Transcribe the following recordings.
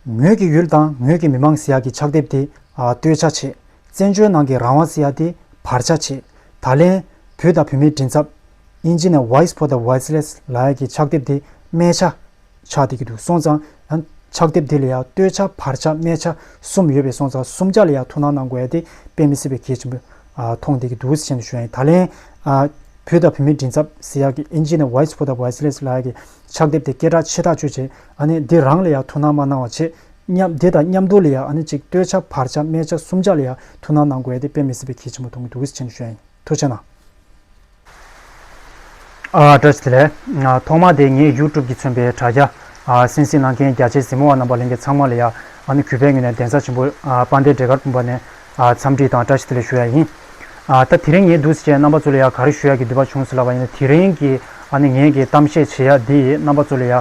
ངོས་ཀྱི་ཡུལ་དང་ངོས་ཀྱི་མི་མང་སི་ཡ་གི་ཕྱག་དེབ་དེ་སྟོད་ཆ་བྱེད། བཙན་བྱོལ་ནང་གི་རང་དབང་སི་ཡ་དེ་བར་ཆ་བྱེད། ད་ལན། བུ་དང་བུ་མའི་མགྲིན་ཚབ། Ingenieur Voice for the Voiceless། ལགས་ཀྱི་ཕྱག་དེབ་དེ་སྨད་ཆ། ཆགས་དེ་གི་འདུག་སོང་ཙང། ཕྱག་དེབ་དེ་ལ་ཡང་སྟོད་ཆ་བར་ཆ་སྨད་ཆ་གསུམ་ཡོད་པས་སོང་ཙང་གསུམ་ཆ་ལ་ཡང་ཐུགས་སྣང་གནང་དགོས་ཡ་དེ་དཔེ་མི་སྲིད་པའི་གལ་ཆེན་པོ། མཐོང་དེ་གི་འདུག་ཟེར་བཞིན་དུ་ཞུ་ཡ་ཡིན་ད་ལན། བུ་དང་བུ་མའི་མགྲིན་ཚབ་སི་ཡ་གི Ingenieur Voice for the Voiceless ལགས་ཀྱི་ཕྱག་འདེབས་དེ་སྐད་གྲགས་ཆེ་དྲག་སྤྱོད་བྱེད། འདི་རང་ལ་ཡང་ཐུགས་སྣང་མ་གནང་བ་ཆེ། མཉམ་འདི་དང་མཉམ་འདུག་ལ་ཡང་གཅིག་ལྟོས་བྱ་བར་བྱ་སྨད་བྱ་གསུམ་བྱ་ལ་ཡང་ཐུགས་སྣང་གནང་དགོས་ཏེ་དཔེ་མི་སྲིད་པའི་ཁྱི་ཆེན་པོ་དུང་གི་དུག་གིས་ཆེན་ཞོན་ཡིན། ཐུགས་ཆེ་ན། བཀྲ་ཤིས། ཐོག་མར་དེ་ངས་ཡུལ་གྲུབ་ཀྱིས་མཚོན་པའི་དྲ་རྒྱ། སེམས་གཟིགས་གནང་མཁན་རྒྱ་ཆེའི་གཟིགས་མོ་བ་རྣམ་པ་གླིང་གེ་ཚང་མ་ལ་ཡང་གུས་པས་ངོས་ནས་གདན་ས་ཆེན་པོ་སྤང་སྟེ་འབྲས་དཀར་སྤུངས་པ་ནས་འཚམས་འདྲི་དང་བཀྲ་ཤིས་བདེ་ལེགས་ཞུ་ཡ་ཡིན། ད་དེ་རིང་ངས་འདུག་ཟེར་བྱའི་རྣམ་པ་ཚོ་ལ་ཡང་ག་རེ་ཞུ་ཡ་གི་འདུག་པ་བྱུང་ཟེར་ལབ་པ་ཡིན་ན་དེ་རིང་གི་ངས་ཀྱི་གཏམ་བཤད་བྱེད་ཡ་འདི་ཡི་རྣམ་པ་ཚོ་ལ་ཡ།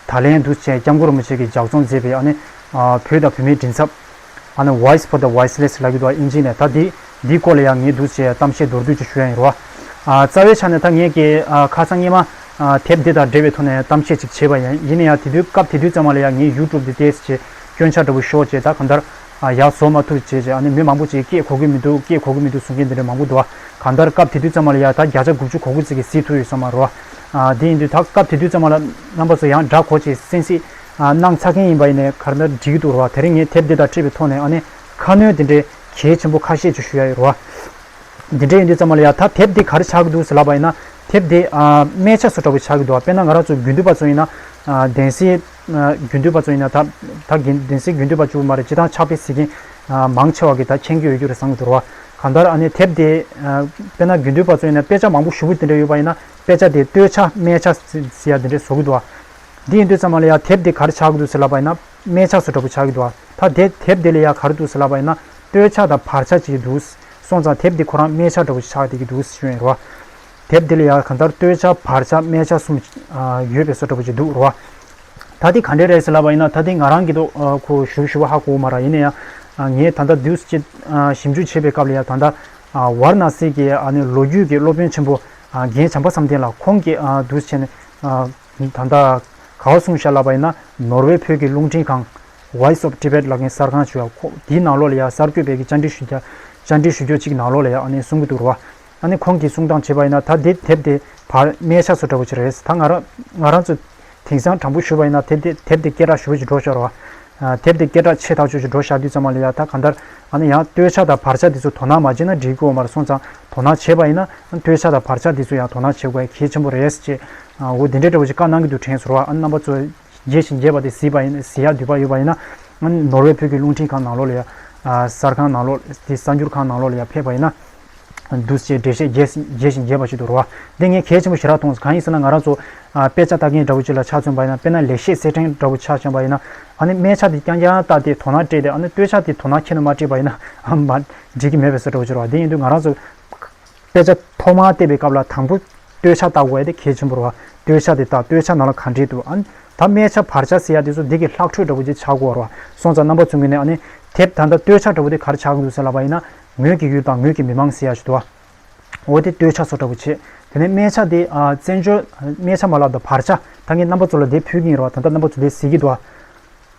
ད་ལན་འདུག་ཟེར་བྱའི་སྐྱབས་མགོན་རིན་པོ་ཆེ་གི་ལྗགས་རྩོམ་མཛད་པའི་བོད་དང་བོད་མིའི་མགྲིན་ཚབ། Voice for the Voiceless ལགས་ཀྱི་འདུག་བ་ཨིན་ཇི་ནས་ད་འདི་འདིའི་སྐོར་ལ་ཡང་ངས་འདུག་ཟེར་བྱའི་གཏམ་བཤད་མདོར་བསྡུས་ཅིག་ཞུ་ཡ་ཡིན་རོ། རྩ་བའི་ཆ་ནས་ད་ངས་ཀྱི་ཁ་སང་སྙེ་མ་དེབ་འདི་དང་འབྲེལ་བའི་ཐོག་ནས་གཏམ་བཤད་ཅིག་བྱས་པ་ཡིན་ཡིན་ན་ཡང་དེ་དུས་སྐབས་དེ་དུས་ཙམ་མ་ལ་ཡ་ངས YouTube དེ་ལྟས་ཟེར་བྱའི་སྐྱོན་ཆ་འདྲ་བོ་ཞོག་ཅེས་ད་གང་ལྟར། ཡག་བཟོ་མ་ཐུབ་བྱས་བྱས་ཨ་ནི་མི་མང་པོ་ཅིག་སྐྱེས་གོ་གི་མི་འདུག་སྐྱེས་གོ་གི་མི་འདུག་གསུང་མཁན་དེ་འདྲ་མང་པོ་འདུག་གང་ལྟར་སྐབས་དེ་དུས་ཙམ་མ་ལ་ཡ་ད་བརྒྱ་ཆ་དགུ་བཅུ་གོ་གོ་ཙི་གི་གཟིགས་ཐུབ་ཡོད་ས་མ་རོ། དེ་ཡིན་དུས་ད་སྐབས་དེ་དུས་ཙམ་མ་ལ་རྣམ་པ་ཚོ་ཡང་འདྲ་གོ་ཅེས་གསན་གཟིགས་གནང་ཚར་མཁན་ཡིན་པ་ཡིན་ནའི་གར་ནར་འགྲིག་གི་འདུག་རོ། དེ་རིང་ངས་དེབ་འདི་དག་ཁྲིད་པའི་ཐོག་ནས་ཨ་ནི་ཁ་སྣོན་དེ་འདྲའི་གལ་ཆེན་པོ་ཁ་ཤས་ཅིག་ཞུ་ཡ་ཡོད་རོ། དེ་འདྲ་ཡིན་དུས་ཙམ་མ་ལ་ཡ་ད་དེབ་འདི་ག་རེ་ཆགས་ཀྱི་འདུག་ཟེར་ལབ་པ་ཡིན་ན་དེབ་འདི་སྨད་ཆ་སོ་འདྲ་བོ་ཆགས་ཀྱི་འདུག་དཔེར་ན་ང་རང་ཚོ་དགུན་དུས་པ་ཚོ་ཡིན་ན་བདེན་སྲིད། རྒྱུན་མཐུད་པ་ཚོ་ཡིན་ན་ད་ད་གིན་བདེན་གསེས་རྒྱུན་མཐུད་པ་བཅུ་མ་རེད་ཅི་ཐང་ཆགས་པའི་གཟིགས་མཁན་མང་ཆེ་བ་གིས་ད་མཁྱེན་རྒྱུ་ཡོད་རྒྱུ་རེད་བསམ་གྱི་འདུག་བ་གང་ལྟར་ཨ་ནེ་དེབ་དེ་དཔེར་ན་རྒྱུན་མཐུད་པ་ཚོ་ཡིན་ན་དཔེ་ཆ་མང་པོ་ཞུ་གི་དེ་འདྲ་ཡོད་པ་ཡིན་ན་དཔེ་ཆ་དེ་ལྟོས་ཆ་སྨད་ཆ་ཟེར་ཡ་དེ་འདྲས་བཟོ་གི་འདུག་བ་འདི་ཡིན་དུས་ཙམ་མ་ལ་ཡ་དེབ་དེ་གར་ཆགས་ཀྱི་འདུག་ཟེར་ལབ་པ་ཡིན་ན་སྨད་ཆ་ཟོ་འདྲ་པོ་ཆགས་ཀྱི་འདུག་བ་ད་དེ་དེབ་དེ་ལས་ཡ་གར་འདུག་ཟེར་ལབ་པ་ཡིན་ན་ལྟོས་ཆ་དང་བར་ཆ་བྱེད་ཀྱི་འདུག་སོང་ཙང་དེབ་དེ་ཁོ་རང་སྨད་ཆ་འདྲ་པོ་ཞིག་ཆགས་བསྡད་ཀྱི་འདུག་ཤོད་ཡོད་རེད་བ། དེབ་འདི་ལ་ཡང་གང་ལྟར་སྟོད་ཆ་བར་ཆ་སྨད་ཆ་གསུམ་ཡོད་པའི་སོ་འདྲ་པོ་ཅིག་འདུག་རོ། ད་ལྟའི་ག་འདྲའི་རེད་ཟེར་ལབ་པ་ཡིན་ན་ད་ལྟའི་ང་རང་གི་ཐོག་ཁོ་ཞུ་ཞུ་བ་ཧ་གོ་མ་ར་ཡིན་ན་ཡང་ངས་ད་ལྟ་དུས་ཚོད་ཅིག་ཞིབ་འཇུག་བྱེད་པའི་སྐབས་ལ་ཡང་ད་ལྟ་ཝར་ན་སི་གི་ལོ་རྒྱུས་ཀྱི་སློབ་དཔོན་ཆེན་པོ་རྒན་བྱམས་པ་བསམ་གཏན་ལ་ཁོང་གི་དུས་ཆེན་ད་ལྟ་ག་བ་གསུང་བཞག་ལབ་པ་ཡིན་ན་ནོར་ཝེ་བོད་ཀྱི་རླུང་འཕྲིན་ཁང། Voice of Tibet། ལ་མཁན་གསར་ཁང་ཆུ་ཡ་ཁོང་དེའི་ནང་ལོགས་ལ་ཡང་གསར་འགོད་པའི་གི་བཅར་འདྲི་ཞུ་རྒྱོ་བཅར་འདྲི་ཞུ་རྒྱོ་ཅིག་གི་ནང་ལོགས་ལ་ཡང་གསུང་གི་འདུག་རོ། ཨ་ནི་ཁོང་གིས་གསུང་སྟངས་བྱས་པ་ཡིན་ན་ད་དེ་དེབ་དེ་བར་སྣེ་ཆགས་སུ་འདྲ་བོ་ཅིག་རེད་ད་ང་རང་ང་རང་ཚོ་དེང་སང་དྲང་པོ་ཞུས་པ་ཡིན་ན་དེབ་དེ་དེབ་དེ་སྐད་གྲགས་ཞུ་བོ་ཅིག་འགྲོ་ཤོར་བ། དེབ་དེ་སྐད་གྲགས་ཆེ་ཐག་ཆོད་ཅིག་འགྲོ་ཤར་དུས་ཙམ་མ་ལ་ཡ་ད་གང་ལྟར་ཨ་ནི་ཡང་སྟོད་ཆ་དང་བར་ཆ་དེ་ཚོ་དོ་སྣང་མ་བྱས་ན་འགྲིག་གི་འོ་མར་སོང་ཙང་དོ་སྣང་བྱས་པ་ཡིན་ན་ཨ་ནི་སྟོད་ཆ་དང་བར་ཆ་དེ་ཚོ་ཡང་དོ་སྣང་བྱེད་དགོས་གལ་ཆེན་པོ་རེད། ཅེས་འོ་དེ་འདྲའི་འདྲ་བོ་ཅིག་བཀའ་གནང་གི་འདུག་དྲན་གསོར་བ་ཨ་ནི་རྣམ་པ་གཙོ། རྒྱས་ཤིང་རྒྱས་པ་དེ་བཟི་ཡག་དུས་བབ་ཡོད་པ་ཡིན་ན། ནོར་ཝེ་བོད་ཀྱི་རླུང་འཕྲིན་ཁང་ནང་ལོགས་ལ་ཡ། གསར་ཁང་ནང་ལོགས་དེ་གསར་འགྱུར་ཁང་ནང་ལོགས་ལ་ཡ་ཕེབས་པ་ཡིན་ན། འདུ་བྱེད་འགྲེལ་བཤད་རྒྱས་ཤིང་རྒྱས་པ་ཞིག་ཏུ་རོ། འདི་ངས་གལ་ཆེན་པོ་ཞེ་དྲག་མཐོང། གང་ཡིན་ཟེར་ན་ང་རང་ཚོ། དཔེ་ཆ་ལྟ་མཁན་འདྲ་བོ་ཅིག་ལ་ཆ་མཚོན་པ་ཡིན་ན་དཔེར་ན་ལེགས་བཤད་གསེར་ཕྲེང་འདྲ་བོ་ཆ་མཚོན་པ་ཡིན་ན། ཨ་ནི་སྨྲས་ཆ་དེ་རྐྱང་རྐྱང་བཏགས་ཏེ་དོ་སྣང་སྤྲད་དེ་ཨ་ནི་ལྟོས་ཆ་དེ་དོ་སྣང་ཁྱེད་ནས་མ་སྤྲད་པ་ཡིན་ན། འགྲིག་གི་མེད་པའི་ཟེར་འདྲ་བོ་ཅིག་རོ། དེ་ཡིན་དུས་ང་རང་ཚོ། དཔེ་ཆ་ཐོག་མར་བལྟས་པའི་སྐབས་ལ་དང་པོ་སྟོད་ཆ་བལྟ་དགོས་ཡ་དེ་གལ་ཆེན་པོར་བ། སྟོད་ཆ་དེ་བལྟ་སྟོད་ཆ་ནང་ལ་ག་འདྲས་འདུག་ཨང། ད་སྨད་ཆ་བར་ཆ་ཟེར་ཡ་དེ་ཚོ་འདི་གི་ལྷག་འཕྲོས་འདྲ་པོ་ཅིག་ཆགས་དགོས་བར་བ། སོང་ཙང་རྣམ་པ་ཚུན་གྱི་ནས་ཨ་ནི། དེབ་ད་ལྟ་སྟོད་ཆ་འདྲ་པོ་དེ་གར་ཆགས་ཀྱི་འདུག་ཟེར་ལབ་པ་ཡིན་ན། ངོས་ཀྱི་ཡུལ་དང་ངོས་ཀྱི་མི་མང་ཟེར་ཡ་ཞིག་འདུག་ཨ། འོ་དེ་སྟོད་ཆ་སོ་འདྲ་པོ་བྱས། དེ་ནས་སྨད་ཆ་དེ་ཨ་བཙན་བྱོལ། སྨད་ཆ་མ་ལབ་དང་བར་ཆ་ད་ངས་རྣམ་པ་ཚོ་ལ་དེབ་ཕུལ་གྱིན་ཡོད་ར་བ་ད་ལྟ་རྣམ་པ་ཚོ་དེ་གཟིགས་ཀྱི་འདུག་ཨ།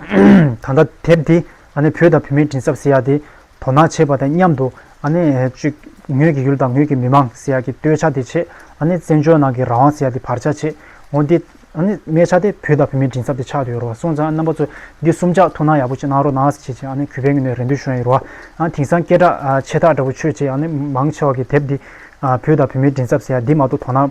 ད་ལྟ་དེབ་དེ་བོད་དང་བོད་མིའི་དྲིན་གསབ་ཟེར་ཡག་དེ་དོ་སྣང་བྱེད་པ་དང་མཉམ་དུ། ངོས་ཀྱི་ཡུལ་དང་ངོས་ཀྱི་མི་མང་ཟེར་ཡག་གི་སྟོད་ཆ་དེ་ཆེད། བཙན་བྱོལ་ནང་གི་རང་དབང་ཟེར་ཡག་དེ་བར་ཆ་ཆེད། འོ་འདི། གནས་ཆ་དེ་བོད་དང་བོད་མིའི་དྲིན་གསབ་དེ་ཆགས་ཡོད་རུང་བ་སོང་ཙང་རྣམ་པ་ཚོས་འདི་གསུམ་ཆ་ཐུགས་སྣང་ཡག་པོ་ཅིག་གནང་རོགས་གནང་ཞེས་ཀྱི་གུས་པས་ངེས་ནས་རེ་འདུན་ཞུ་ཡི་རུ་བ། དེང་སང་སྐད་གྲགས་ཆེ་ཐག་འདྲ་པོ་ཆོས་བྱེད་མང་ཆེ་བ་གི་དེབ་འདི། བོད་དང་བོད་མིའི་དྲིན་གསབ་ཟེར་ཡག་འདི་མ་གཏོགས་དོ་སྣང།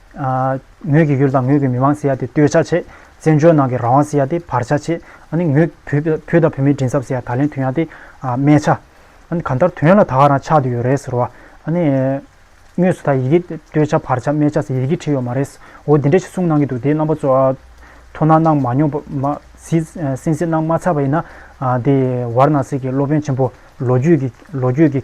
ངོས་ཀྱི་ཡུལ་དང་ངོས་ཀྱི་མི་དམངས་ཟེར་ཡ་དེ་ལྟོས་ཆ་བྱེད། བཙན་བྱོལ་ནང་གི་རང་དབང་ཟེར་ཡ་དེ་བར་ཆ་བྱེད། ཨ་ནི་ངོས་ཀྱི་བུ་དང་བུ་མོའི་མགྲིན་ཚབ་ཟེར་ཡ་ད་ལན་དུས་ཡང་དེ་སྨྲས་ཆ། ཨ་ནི་གང་ལྟར་དོན་ལ་ད་ག་རང་ཆགས་དུས་ཡོད་རེད་ཟེར་བ། ཨ་ནི། དངོས་སུ་ད་ཡི་གེ་ལྟོས་ཆ་བར་ཆ་སྨྲས་ཆ་ཟེར་ཡི་གེ་བྲིས་ཡོད་མ་རེད། འོ་དེ་འདྲ་ཞིག་གསུངས་གནང་གི་འདུག་དེའི་རྣམ་པ་ཚོ། ཐོ་ན་གནང་མ་མྱོང་པ། སེམས་གཟིགས་གནང་མ་ཚར་བ་ཡིན་ན། དེ་ཝར་ན་སི་གི་སློབ་དཔོན་ཆེན་པོ་ལོ་རྒྱུས་ཀྱི།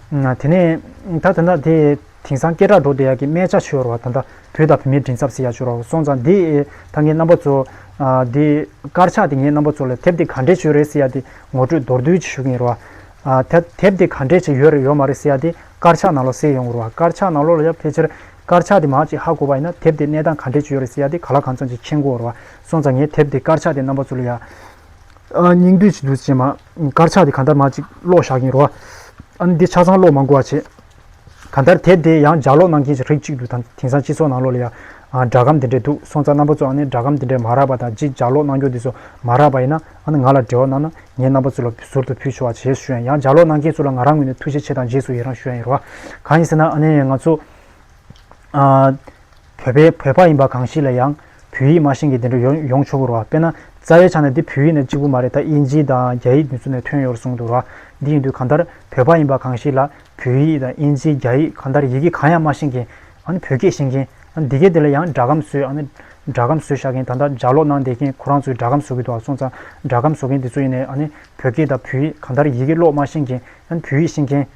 དེ་ནས་ད་དེ་འདྲ་དེ་དེང་སང་སྐད་གྲགས་འགྲོ་བསྡད་ཡག་གི་སྨད་ཆ་ཆོལ་བ་དང་འདྲ་བོད་དང་བོད་མིའི་མགྲིན་ཚབ་ཟེར་ཡག་ཆོལ་རོགས་སོང་ཙང་དེ་ད་ངའི་རྣམ་པ་ཚོ་དེ་དཀར་ཆག་དེ་ངའི་རྣམ་པ་ཚོ་ལ་དེབ་དེ་ག་འདྲའི་ཆོལ་རེད་ཟེར་ཡག་དེ་ངོ་སྤྲོད་མདོར་བསྡུས་ཅིག་ཞུ་གིན་རོགས་ཨ། དེབ་དེ་ག་འདྲའི་ཆེད་ཡོད་རེད་ཡོད་མ་རེད་ཟེར་ཡག་དེ་དཀར་ཆག་ནང་ལོགས་གསལ་ཡོང་གི་རོགས་ཨ་དཀར་ཆག་ནང་ལོགས་ལ་ཡ་ཕལ་ཆེར་དཀར་ཆག་དེ་མང་ཅིག་ཧ་གོ་བ་ཡིན་ན་དེབ་དེ་གནས་སྟངས་ག་འདྲའི་ཆོལ་ཡོད་རེད་ཟེར་ཡག་དེ་ག་ལ་གང་ཚང་ཅིག་མཁྱེན་གོ་རོགས་ཨ་སོང་ཙང་ངའི་དེབ་དེ་དཀར་ཆག་དེ་རྣམ་པ་ཚོ་ལ་ཡ། སྙིང་འདོད་ཅིག་འདུག་ཅེས་མ། དཀར་ཆག་དེ་གང་ལྟར་མ་ཅིག་གློག་བཞག་གིན་རོགས། ཨ་ནི་འདི་ཆ་ཚང་གློག་མ་འགོ་བ་བྱེད། གང་ལྟར་དེ་དེ་ཡང་ལྗགས་ཀློག་གནང་མཁན་ཞིག་རིགས་གཅིག་འདུག་དང་དེང་སང་སྤྱི་ཚོགས་ནང་ལོགས་ལ་ཡང། སྒྲ་སྒམ་དེ་འདྲས་འདུག་སོང་ཙང་རྣམ་པ་ཚོའང་ནི་སྒྲ་སྒམ་དེ་འདྲས་མ་རག་པ་དང་གཅིག་ལྗགས་ཀློག་གནང་སྐྱོང་དེ་ཚོ་མ་རག་པ་ཡིན་ན་ཨ་ནི་ང་ལ་འབྲེལ་བ་གནང་ན་ངས་རྣམ་པ་ཚོ་ལ་ཟུར་དུ་ཕུལ་ཆོག་བ་བྱེད་ཞུ་ཡང་ཡང་ལྗགས་ཀློག་གནང་མཁན་ཚོ་ལ་ང་རང་ངོས་ནས་ཐུགས་རྗེ་ཆེ་དང་རྗེས་སུ་ཡི་རང་ཞུ་ཡ་ཡིན་རོགས། གང་ཡིན་ཟེར་ན་ཨ་ནི་ཡང་ང་ཚོ། བོད་པའི་བོད་པ་ཡིན་པ་གང་ཞིག་ལ་ཡང་བོད་ཡིག་མ་ཤེས་ཀྱི་དེ་འདྲ་ཡོང་ཡོང་ཆོག་གི་རོ། དཔེར་ན་རྩ་བའི་ཆ་ནས་འདི་བོད་ཡིག་ནས་གཅིག་པུ་མ་རེད་ད་དབྱིན་ཇི་དང་རྒྱ་ཡིག་དུས་ཚོད་ནས་ཐོན་ཡོད་རུ་གསུངས་འདུག་རོ། འདི་ཡིན་དུས་གང་ལྟར་བོད་པ་ཡིན་པ་གང་ཞིག་ལ་བོད་ཡིག་དང་དབྱིན་ཇི་རྒྱ་ཡིག་གང་ལྟར་ཡི་གེ་གང་ཡང་མ་ཤེས་མཁན། ཨཱ་བོད་སྐད་ཤེས་མཁན། ཨཱ་འདི་གའི་དེ་ལ་ཡང་སྒྲ་སྒམ་བཟོས་ཨཱ་སྒྲ་སྒམ་བཟོས་བཞག་མཁན་ད་ལྟ་ལྗགས་ཀློག་གནང་བསྡད་མཁན་ཁོ་རང་ཚོས་སྒྲ་སྒམ་བཟོ་གི་འདུག་ཨ་སོང་ཙང་སྒྲ་སྒམ་བཟོ་མཁན་དེ་ཚོ་ཡིན་ནའི་ཨཱ་ནི་བོད་སྐད་དང་བོད་ཡིག་གང་ལྟར་ཡི་གེ་ཀློག་མ་ཤེས་མཁན་ཨཱ་བོད་ཡིག་ཤེས་མཁན།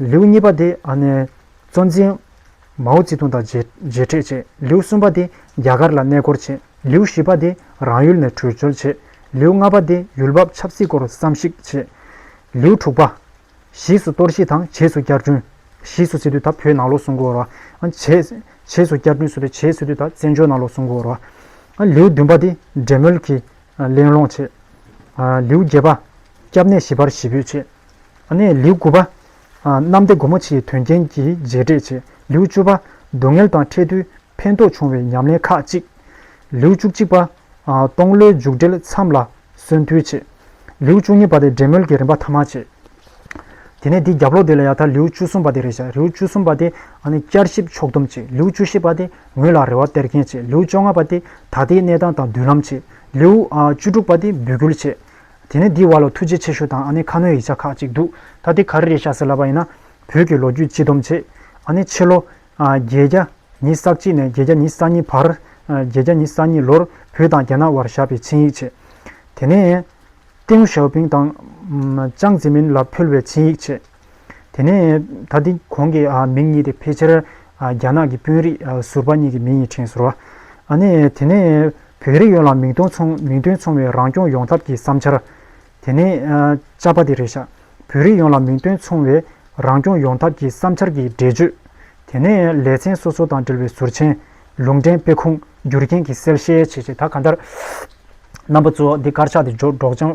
ལེའུ་གཉིས་པ་དེ་གཙོ་འཛིན། མའོ་ཙི་ཏུང་དང་མཇལ་འཕྲད་བྱས། ལེའུ་གསུམ་པ་དེ་རྒྱ་གར་ལ་གནས་སྐོར་བྱས། ལེའུ་བཞི་པ་དེ་རང་ཡུལ་ནས་བྲོས་བྱོལ་བྱས། ལེའུ་ལྔ་པ་དེ་ཡུལ་བབ་ཆབ་སྲིད་སྐོར་བསམ་གཞིག་བྱས། ལེའུ་དྲུག་པ། བཞེས་སུ་གཏོར་བཤིག་དང་བྱེས་སུ་བསྐྱར་སྐྲུན། བཞེས་སུ་སི་ཏུ་དང་བོད་ནང་ལོགས་སུ་འགོར་བ། བྱེས་སུ་བསྐྱར་སྐྲུན་སུ་ཏུ་བྱེས་སི་ཏུ་དང་བཙན་བྱོལ་ནང་ལོགས་སུ་འགོར་བ། ལེའུ་བདུན་པ་དེ་འབྲེལ་མོལ་གྱིས་གླེང་སློང་བྱས། ལེའུ་བརྒྱད་པ། སྐྱབས་གནས་ཞི་བར་ཞི་འབོད་བྱས། ལེའུ་དགུ་པ། གནམ་སྡེ་སྒོ་མོ་ཆེའི་དོན་རྐྱེན་གྱི་རྗེས་འབྲེལ་བྱེད། ལེའུ་བཅུ་པ། སྡུག་བསྔལ་དང་འཕྲད་དུས་ཕན་ཐོགས་འབྱུང་བའི་ཉམས་ལེན་ཁག་གཅིག། ལེའུ་བཅུ་གཅིག་པ། སྟོང་ལོའི་མཇུག་འགྲིལ་མཚམས་ལ་གསོན་ཐུལ་བྱེད། ལེའུ་བཅུ་གཉིས་པ། འབྲེལ་མོལ་གྱི་རིམ་པ་ཐ་མ་བྱེད། དེ་ནས་དེའི་རྒྱབ་ལོག་དེ་ལ་ཡང་དག་ལེའུ་བཅུ་གསུམ་པ་དེ་རེ་བྱ། ལེའུ་བཅུ་གསུམ་པ། བསྐྱར་ཞིབ་ཕྱོགས་བསྡོམས་བྱེད། ལེའུ་བཅུ་བཞི་པ། ངོས་ལ་རེ་བ་སྟེར་མཁན་བྱེད། ལེའུ་བཅོ་ལྔ་པ། ད་ལྟའི་གནས་སྟངས་དང་མདུན་ལམ་བྱེད། ལེའུ་བཅུ་དྲུག་པ། འབུད་སྐུལ་བྱེད། དེ་ནས་འདི་བ་ལོ་ཐུགས་རྗེ་ཆེ་ཞུ་དང་ཨ་ནེ་ཁ་ནོའི་ཡིག་ཆ་ཁག་ཅིག་འདུག་ད་དེ་ག་རེ་རེད་བྱ་ཟེར་ལབ་པ་ཡིན་ན། བོད་ཀྱི་ལོ་རྒྱུས་སྤྱི་སྡོམ་བྱེད། ཨ་ནེ་ཕྱི་ལོ། བརྒྱད་བརྒྱ། ཉིས་ས་གཅིག་ནས་བརྒྱད་བརྒྱ་ཉིས་ས་གཉིས་བར། བརྒྱད་བརྒྱ་ཉིས་ས་གཉིས་ལོར་བོད་དང་རྒྱ་ནག་བར་བཞག་པའི་ཆིངས་ཡིག་བྱེད། དེ་ནས། ཏེའུ་ཞའོ་པིང་དང། ཅང་ཙེ་མིན་ལ་ཕུལ་བའི་ཆིངས་ཡིག་བྱེད། དེ་ནས་ད་དེ་གོང་གི་མིང་གཉིས་དེ་ཕལ་ཆེར་རྒྱ་ནག་གི་དཔོན་རིགས་ཟུར་པ་གཉིས་ཀྱི་མིང་ཡིན་ཁྲིན་ཟུར་བ། ནས་དེ་ནས་བོད་རིགས་ཡོངས་ལ་མིང་དོན་མཚུངས་བའི་རང་སྐྱོང་ཡོང་ཐབས་ཀྱི་བསམ་འཆར། དེ་ནས་ཅཱ་པ་དེ་རེད་ཤག་བོད་རིགས་ཡོངས་ལ་མིང་དོན་མཚུངས་བའི་རང་སྐྱོང་ཡོང་ཐབས་ཀྱི་བསམ་འཆར་གྱི་འགྲེལ་བརྗོད། དེ་ནས་ལེ་ཚན་སོ་སོ་དང་འབྲེལ་བའི་ཟུར་མཆན། ལུང་འདྲེན་དཔེ་ཁུངས་བསྒྱུར་མཁན་གྱི་གསལ་བཤད་བྱེད་བྱེད་ད་ག་འདར། རྣམ་པ་གཙོ་བོ་འདི་དཀར་ཆག་དེ་འཇོག་འགྲོགས་ཅང།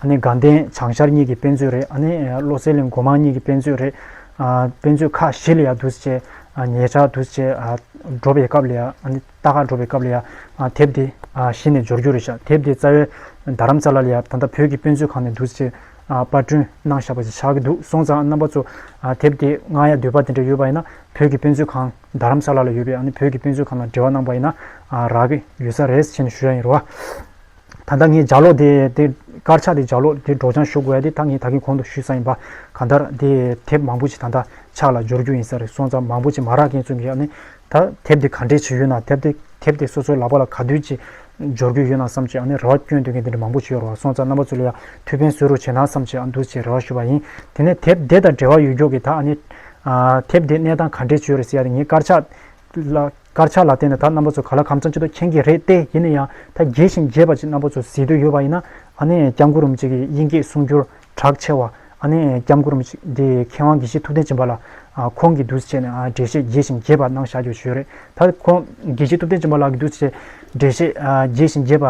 ཨ་ནེ་དགའ་ལྡན་བྱང་ཤར་གཉིས་ཀྱི་དཔེ་མཛོད་རེད་ཨ་ནེ་བློ་གསལ་གླིང་སྒོ་མང་གཉིས་ཀྱི་དཔེ་མཛོད་རེད། དཔེ་མཛོད་ཁག་བཞི་ལ་ཡང་དུས་ཚོད་བཅད། ཉེ་ཆར་དུས་ཚོད་བཅད་འགྲོ་པའི་སྐབས་ལ་ཡང་ཨ་ནེ་རྟ་ཁ་འགྲོ་པའི་སྐབས་ལ་ཡང་དེབ་དེ་གཞི་ནས་འབྱོར་རྒྱུ་རེད་ཤག་དེབ་དེ་རྩ་བའི་རྡ་རམ་ས་ལ་ལ་ཡང་ད་ལྟ་བོད་ཀྱི་དཔེ་མཛོད་ཁང་ནས་དུས་ཚོད་བཅད་པར་སྐྲུན་གནང་བཞག་པ་ཞིག་ཆགས་ཀྱི་འདུག་སོང་ཙང་རྣམ་པ་ཚོ་དེབ་དེ་མངགས་ཡ་འདོད་པ་དེ་འདྲ་ཡོད་པ་ཡིན་ན་བོད་ཀྱི་དཔེ་མཛོད་ཁང་རྡ་རམ་ས་ལ་ལ་ཡོད་པའི་ཨ་ནེ་བོད་ཀྱི་དཔེ་མཛོད་ཁང་ལ་འབྲེལ་བ་གནང་པ་ཡིན་ན་རག་གི་ཡོད་ས་རེད་ཟེར་ནས་ཞུ་ཡ་ཡིན་རུང། ད་ལྟ་ངས་ལྗགས་ལོག་དེ། དཀར་ཆག་དེ་ལྗགས་ལོག་དེ་སྒྲོག་སྦྱང་ཞུ་དགོས་ཡ་དེ་ད་ངས་ད་གིན་གོང་དུ་ཞུས་ས་ཡིན་པ། གང་ལྟར་དེ་དེབ་མང་པོ་ཞིག་ད་ལྟ་ཕྱག་ལ་འབྱོར་རྒྱུ་ཡིན་ས་རེད་སོང་ཙང་མང་པོ་ཞིག་མ་རག་མཁན་ཚོས་ངས་ཡག་ནས་ད་དེབ་དེ་ག་འདྲས་བྱེད་ཡོད་ནའ་དེབ་དེ་དེབ་དེ་སོ་སོའི་ལག་པ་ལ་ག་དུས་ཀྱིས་འབྱོར་རྒྱུ་ཡོད་ནའ་བསམ་ཅི་ཡག་ནས་རེ་བ་སྐྱོན་འདོད་མཁན་དེ་འདྲ་མང་པོ་ཞིག་ཡོད་རེད་བ་སོང་ཙང་རྣམ་པ་ཚོས་ལ་ཡག་ཐུགས་ཕན་གསོས་རོགས་བྱེད་ནའ་བསམ་ཅི་ཡག་འདུག་ཅེས་རེ་བ་ཞུས་པ་ཡིན་དེ་ནས་དེབ་དེ་དང་འབྲེལ་བ་ཡོད་མགྱོགས་ཀྱིས་ད་ཨ་ནི། དེབ་དེ་གནས་སྟངས་ག་འདྲས་བྱོས་རེད་ཟེར་ཡ་དེ་ངས་དཀར་ཆག་ལ། དཀར་ཆག་ལ་བརྟེན་ནས་ད་རྣམ་པ་ཚོ་ག་ལ་གམ་ཚང་གཅིག་ཏུ་མཁྱེན་གྱི་རེད་དེ་ཡིན་ན་ཡང་ད་རྒྱས་ཤིང་རྒྱས་པ་ཅིག་རྣམ་པ་ཚོ་ཟེར་འདོད་ཡོད་པ་ཡིན་ན་ཨ་ནེ་སྐྱབས་མགོ་རུམ་ཅིག་གི་དབྱིན་སྐད་གསུང་རྒྱུར་གྲགས་ཆེ་བ་ཨ་ནེ་སྐྱབས་མགོ་རུམ་ཅིག་འདི་མཁས་དབང་དགེ་བཤེས་ཐུབ་བསྟན་སྦྱིན་པ་ལ་ཁོང་གིས་འདུས་བྱས་ནས་འགྲེལ་བཤད་རྒྱས་ཤིང་རྒྱས་པ་གནང་བཞག་རྒྱུ་ཞུས་རེད་ད་ཁོང་དགེ་བཤེས་ཐུབ་བསྟན་སྦྱིན་པ་ལགས་ཀྱིས་འདུས་བྱས་འགྲེལ་བཤད་རྒྱས་ཤིང་རྒྱས་པ་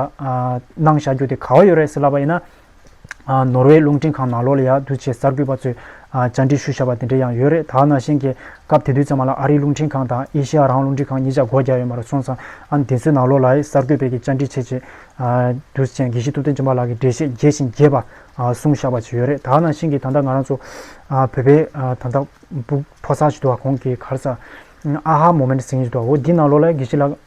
གནང་བཞག་རྒྱུ་དེ་ག་བ་ཡོད་རེད་ཟེར་ལབ་པ་ཡིན་ན་ནོར་ཝེ་རླུང་འཕྲིན་ཁང་ནང་ལོགས་ལ་ཡང་དུས་ཆེས་གསར་འགོད་པ་ཚོས་བཅར་འདྲི་ཞུ་བཞག་པ་དེ་འདྲ་ཡང་ཡོད་རེད་ད་ནང་བཞིན་གྱི་སྐབས་དེ་དུས་ཚང་མ་ལ་ཨ་རིའི་རླུང་འཕྲིན་ཁང་དང་ཨེ་ཤེ་ཡ་རང་རླུང་འཕྲིན་ཁང་གཉིས་ཆ་སྒོ་བརྒྱག་ཡོད་མ་རེད་སོང་ཙང་ཨ་འདི་ཚོའི་ནང་ལོགས་ལ་གསར་འགོད་པའི་གི་བཅར་འདྲི་བྱེད་ཆེད་དུས་ཆེན་དགེ་བཤེས་ཐུབ་བསྟན་སྦྱིན་པ་ལགས་ཀྱི་འགྲེལ་བཤད་རྒྱས་ཤིང་རྒྱས་པ་གསུང་བཞག་པ་ཅིག་ཡོད་རེད་ད་ནང་བཞིན་གྱི་ད་ལྟ་ང་རང་ཚོ་བོད་པའི་ད་ལྟ་བུ་ཕོ་གསར་ཞིག་འདུག་བ་ཁོང་གི་གར་ས་ཨ་ཧ་མོ་མན་དུ་ཟིན་བཞིན་འདུག་བ་འོ་འདི་ནང་ལོགས་ལ་གི་གཞི་ལགས།